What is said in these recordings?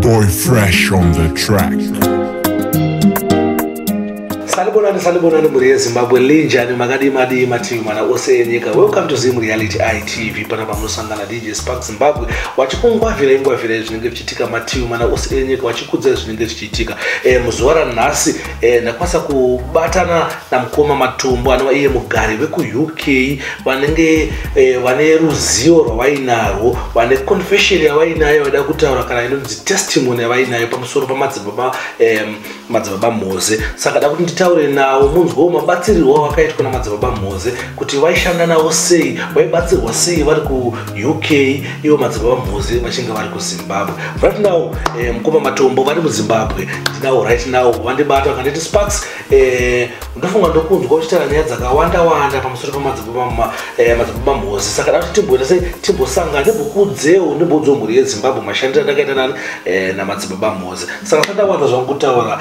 Boy Fresh on the track. salibonani salibonani mhuri yezimbabwe linjani makadii madii mativi mana ose enyika welcome to zim reality itv pana pamunosangana dj spark zimbabwe wachikungwavira ingwavira izvinenge zvichiitika mativi mana ose enyika wachikudza izvinenge zvichiitika e, muzuva ranhasi Eh, ndakwanisa kubatana namukoma matumbu anova iye mugari vekuuk vanenge eh, vane ruzivo rwavainarwo vane confession yavainayo vaida kutaura kana inonzi testimony yavainayo pamusoro pamadzibaba madzibaba mhoze saka da kuti nditaure navo munzwawo mabatsirirwo avakaitwa namadzibaba mhoze kuti vaishanda navo sei vaibatsirwa sei vari ku uk ivo madzibaba mhozi vachinge vari kuzimbabwe right now eh, mukoma matombo vari muzimbabwe ndinawo right now vandibata vakanditi sparks eh, ndofunga ndokunzwa uchitaura nyaya dzakawanda wanda pamusoro pemadzibaba eh, mhozi saka dati timboita sei timbosangana ndimbokuudzeo ndimboudzeo mhuri yezimbabwe mashandiro andakaita nani eh, namadzibaba mhozi saka sandawanza zvangu kutaura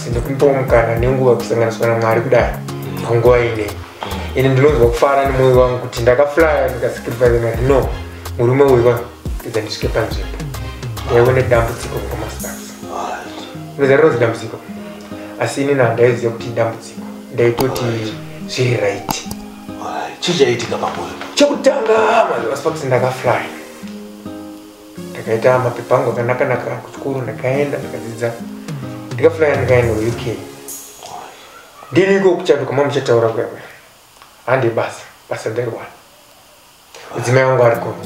ndikumupawo mukana nenguva kusanganiswa namwari kudai panguva ine ini ndinonzwa kufara nemwoyo wangu kuti ndakaflaya ndikasacrifice mari no murume uyu vapedza ndisvike panzvimbo ndaiva nedambudziko mukamastars unoziva rinonzi dambudziko asi ini nandaiziva kuti idambudziko ndaitoti zviri right chii chaiitika pamoyo chekutanga maziva sparks ndakaflaya ndakaita mapepa angu akanakanaka kuchikoro ndakaenda ndikadzidza ndikaflya ndikaenda kuuk ndiri iko kuchanduka ma muchataura kwewe hande basa basa ndariwana mudzimai wangu ari kongo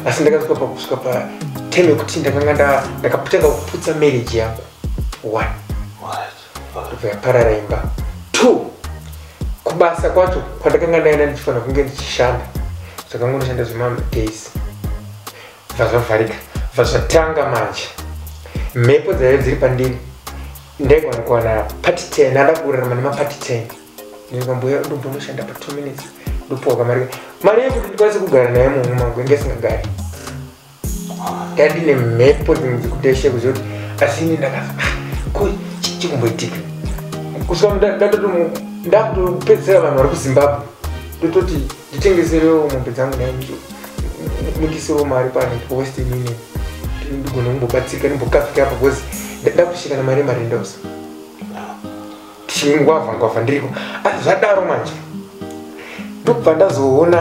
asi ndakasvika pakusvika pa time yekuti ndakanga ndakatanga kuputsa marriage yangu one right. ndobva yaparara imba two kubasa kwacho kwandakanga ndaenda ndichifanira kunge ndichishanda zvakangonoshanda zvemamwe days bva zvavharika bva zvatanga manje mhepo dzaive dziri pandiri ndaigona kuwana pati ten ndakurarama nemapati ten ndikambuya ndombonoshanda pa two minutes ndopuwa kamari mari yekuti ndikwanise kugara naye mumwe mangu inge isingagari ndandine mhepo dzimwe dzekuti aishe kuziva kuti asi ini ndakafa ko chii chikumboitika kusvika ndatoto ndakutopedzisira vanhu vari kuzimbabwe ndototi nditengeserewo mombe dzangu nai mundisewo mari pane western union ndigona kumbobatsirika ndimbokafika apa bcause ndakushika nemari yemarendosa chingwavha ngwavha ndiriko asi zvadaro manje ndokubva ndazoona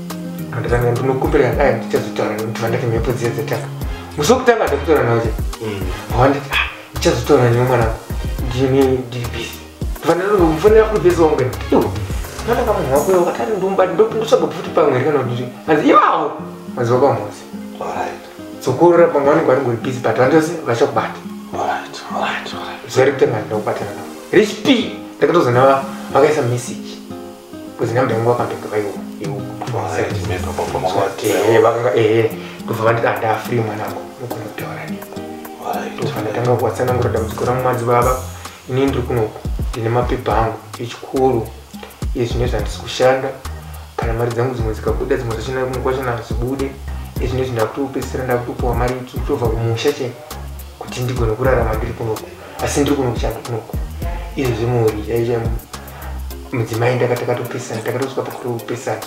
anditanga ndinokumbira dai ndichazotaura nekuti vandati mhepo dziya dzatanga musi wokutanga ndakutaura nawo che wanditi ah, ndichazotaura newe mwanangu ndine ndiri busy ndinofanira kuribhesa wangu iwo kana kama hwako yo katari ndumba ndotsvaga futi pamwe ri kana kuti hanzi iwawo maziva kwamhosi sokurora pamwe vanenge vari ngori busy but vandose vachakubata zvairi kutanga ndinokubatana navo rich p ndakatozonava vakaisa message kuzina mudhani wakambebuka iwo iwo vakanga ehe ndobva vanditi andaa free mwanangu unogona kutaura ni ndobva ndatanga kuwatsanangura dambudziko rangu madzibaba inini ndiri kunoku ndine mapepa angu echikoro ezvine zvandisi kushanda kana mari dzangu dzimwe dzikabuda dzimwe dzachina kumwe kwachana hadzibude ezvine izvi ndakutopedzisira ndakutopuwa mari itsu tobva kumusha che kuti ndigone kurarama ndiri kunoku asi ndiri kuno kuchangu kunoko izvo zvimori yaizva mudzimai ndakatakatopesana takatosvika pakutopesana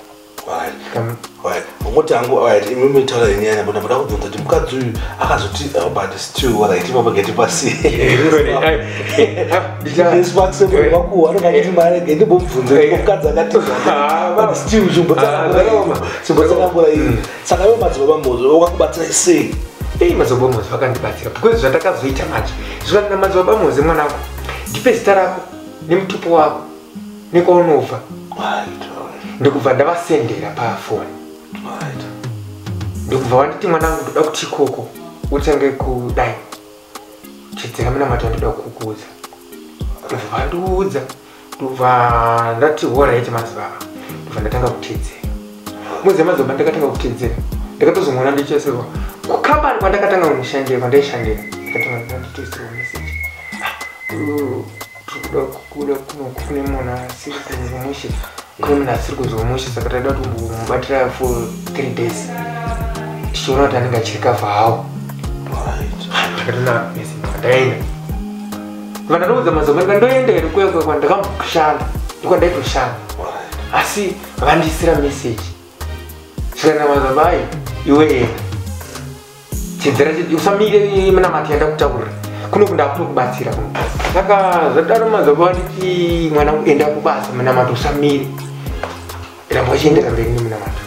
ngokuti angu imi mitaura yenyu yana bona muda kubvunza kuti mukadzi uyu akazoti oh, but still right ipapo geti pasiivakuwanongaitimaregendimbobvunza mukadzi akatiimbotsakambura iri saka iwe madzibaba mozvo wakakubatsirai sei ei madzibaba mozvo vakandibatsira because zvatakazoita manje zvikanina madzibaba moze mwanangu ndipe zita rako nemutupo wako nekwaunobva ndikubva ndavasendera pafoni ndikubva wanditi mwanangu ndoda kuti ikoko utange kudai chidzira munamato wandoda kukuudza ndikubva vandiudza ndobva ndati horaiti madzibaba ndobva ndatanga kutedzera muziva madzibaba ndakatanga kutedzera ndakatozomona ndichesirwa kukambani kwandakatanga kunoshandira kwandaishandira ndakatanga ndanditoisirwa meseji tikuda kukuda kuno kufune munhu asiri kuzomushe kune munhu asiri kuzomushe saka taida kuti mubatira for three days tichiona kuti anenge achirikavha hawo ndakatona meseji kwandaenda vanandiudza mazamani vandoenda here kuya kuya kwandakamboshanda ndikwandaitoshanda asi vandiisira message svikana mazamai iwe enda chinzira chii usamire minamati yandakutaurira kuno kundakutokubatsira kuno saka zvadaro mazamai vanditi mwana enda kubasa minamati usamire ramba uchiendera mberi nemunamato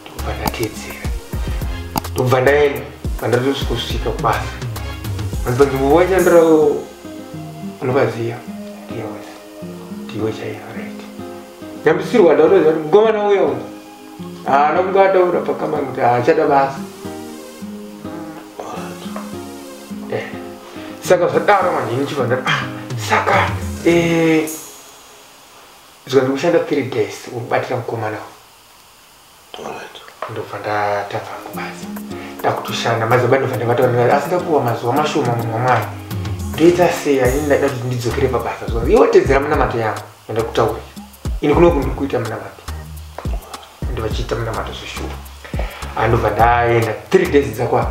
ndokubva ndateedzera ndokubva ndaenda pandatosvikosvika kubasa vanzi panzvimbo vachandira unovaziva ndiwe ndiwe chaiyo right nyambisirwa ndautoziva kuti mukomana uya uyu haana kunge ataura pakamani kuti haachada basa Eh, saka zvadaro manje ndichibva ndati ah saka eh, Zwa ndikushanda 3 days ubatira mukomana uyu. Alright. Ndobva ndatanga hangu basa. Ndakutoshanda mazuva ndobva ndabata asi ndapuwa mazuva mashoma munhu wamwana. Ndoita sei ani ndaida kuti ndidzokere pabasa zvangu. Iwe tedzera munamato yangu yandakutaurira. Ini kunoku ndiri kuita munamato. Ndivachiita munamato zveshuwa. Andobva ndaenda 3 days dzakwana.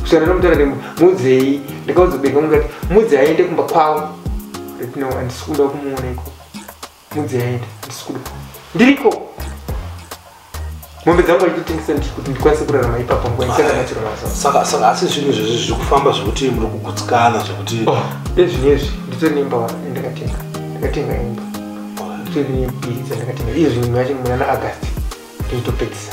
kusiyana nomutana ndemu mudzei ndikaudza beka mukati mudzi aende kumba kwavo right now andisi kuda kumuona iko mudzi aende andisi kuda ndiriko mombe dzangu aitotengesa ndiri kuti ndikwanise kurarama ipapa nguva ndisanganachira masaka saka asi zvinhu izvezvi zviri kufamba zvekuti muri kugutsikana zvekuti oh, ezvinezvi nditori nemba ndakatenga ndakatenga imba nditori nebhiri dzandakatenga iye zvinhu yacho muna na august ndinotopedzisa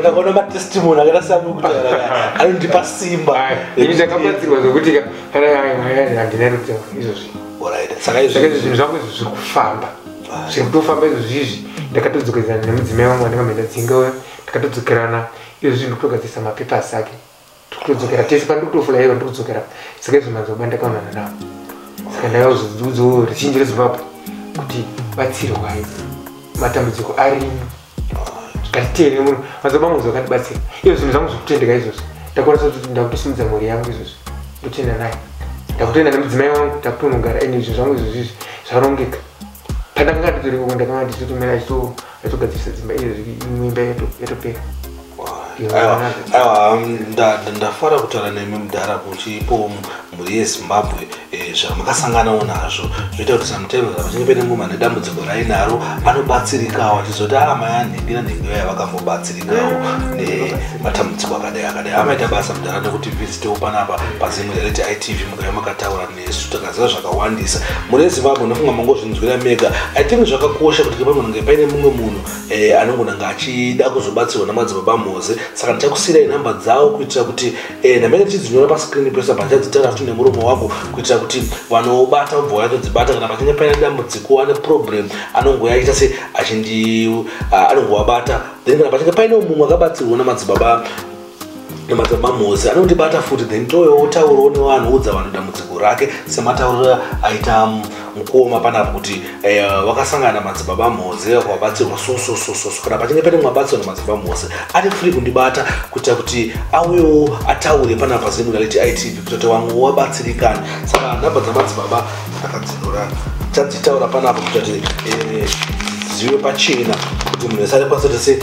ndakaona matestimony akaita seamwe kutaura anondipa simba ini ndakabatsirwa zvokuti kana handina rutaura izvozvi saka izvozvi zvinhu zvangu izvo zviri kufamba zviri kutofamba izvozvi izvi ndakatodzokedzana nemudzimai wangu wandinga maenda dzinga uya ndakatodzokerana izvozvi ndikutogadzirisa mapepers ake tikutodzokera tese pandikutofula ivo ndikudzokera saka izvo mazoba ndakaonana navo saka ndakazodzidzo richinji rezimbabwe kuti batsirwai matambudziko arimo ngatiteere muno mazoba angu zvakandibatsira iyo zvinhu zvangu zvekutendeka izvozvo ndakwanisa kuti ndakutosimudza mhuri yangu izvozvo ndotenda naye ndakutoenda nemudzimai wangu ndakutonogara ende izvo zvangu izvozvizvi zvarongeka pandakanga nditori koko ndakanga ndichitomira achitogadzirisa dzimba iyo imwimba yatopera ndafara kutaura nemi mudhara kuti ipo mhuri yezimbabwe eh, zvamakasanganawo nazvo zvoita kuti samutevera pachinge pene muma nedambudziko rainaro anobatsirikawo achizoti a ah, mai anhingina nhingiyo yavakambobatsirikawo nematambudziko akadai akadai amaita basa mudhara nekuti vizitewo panapa pazimwe reti itv mukaiva makataura isu takaziva zvakawandisa mune zimbabwe ndofunga mangozvinzwira mega i think zvakakosha kuti kepanonge paine mumwe munhu eh, anongonanga achida kuzobatsirwa namadzibaba mhoze saka ndichakusiyira inhamba dzawo kuitira kuti eh, ndamene tichidzinyora pascreen pese pandichadzitara futi nemuromo wako kuitira kuti vanobata vobva vayatodzibata kana pachinge paine dambudziko ane problem anongoya achiita se achindi ah, anongovabata then kana pachinge paine mumwe akabatsirwa namadzibaba nemadzibaba mozi anondibata futi then toyo wotaurawo nevanhu udza vanhu dambudziko rake sematauriro aita mm, mukoma panapo kuti eh, vakasangana madzibaba mozi kwabatsirwa sososososo kana pachinge pane mwabatsirwa nemadzibaba mozi ari free kundibata kuita kuti auyewo ataure panapa zimuna leti itv kuita kuti vamwe wabatsirikana saka nhamba dzamadzibaba akadzinura tadzitaura panapa kuita kuti eh, zive pachena kuti munhu esare kwasotese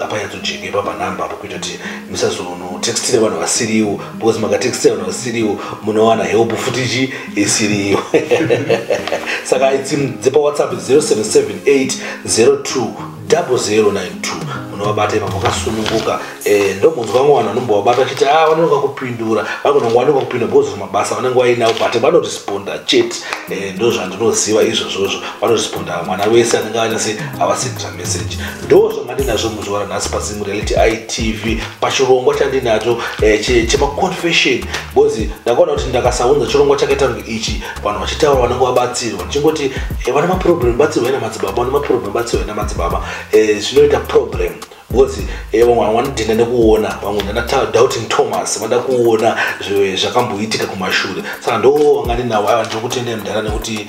apa yatojeka ipapa namba apo kuita kuti musazonotextira vanhu vasiriwo because makatextira vanhu vasiriwo munowana help futi chi isiriyo saka idzi dzepawhatsapp 0778 02 0092 munovabata ipa makasununguka eh, ndomunzwa vamwe vanhu vanombovabata vachiti a ah, vanenge vakupindura vakononga vanenge vakupinda because mabasa vanenge vainawo but vanoresponda chete eh, ndozvandinoziva izvozvozvo vanoresponda mwana wese anenge anyase havasitra message ndo zvamandinazvo muzuva ranhasi pazimu reality itv pachirongwa chandinacho eh, chemaconfession bcause ndakaona kuti ndakasaunza chirongwa chakaita kunge ichi vanhu vachitaura vanenge vabatsirwa ndichingoti eh, vana maproblem batsirwa ina madzibaba vana maproblem batsirwa ina madzibaba eh, zvinoita problem because eh, vamwe vanga vanodhinda nekuona vamwe ndanadoubting thomas vada kuona zvakamboitika kumashure saka ndo vanga ndinawo aiwa ndiri kutendee mudhara nekuti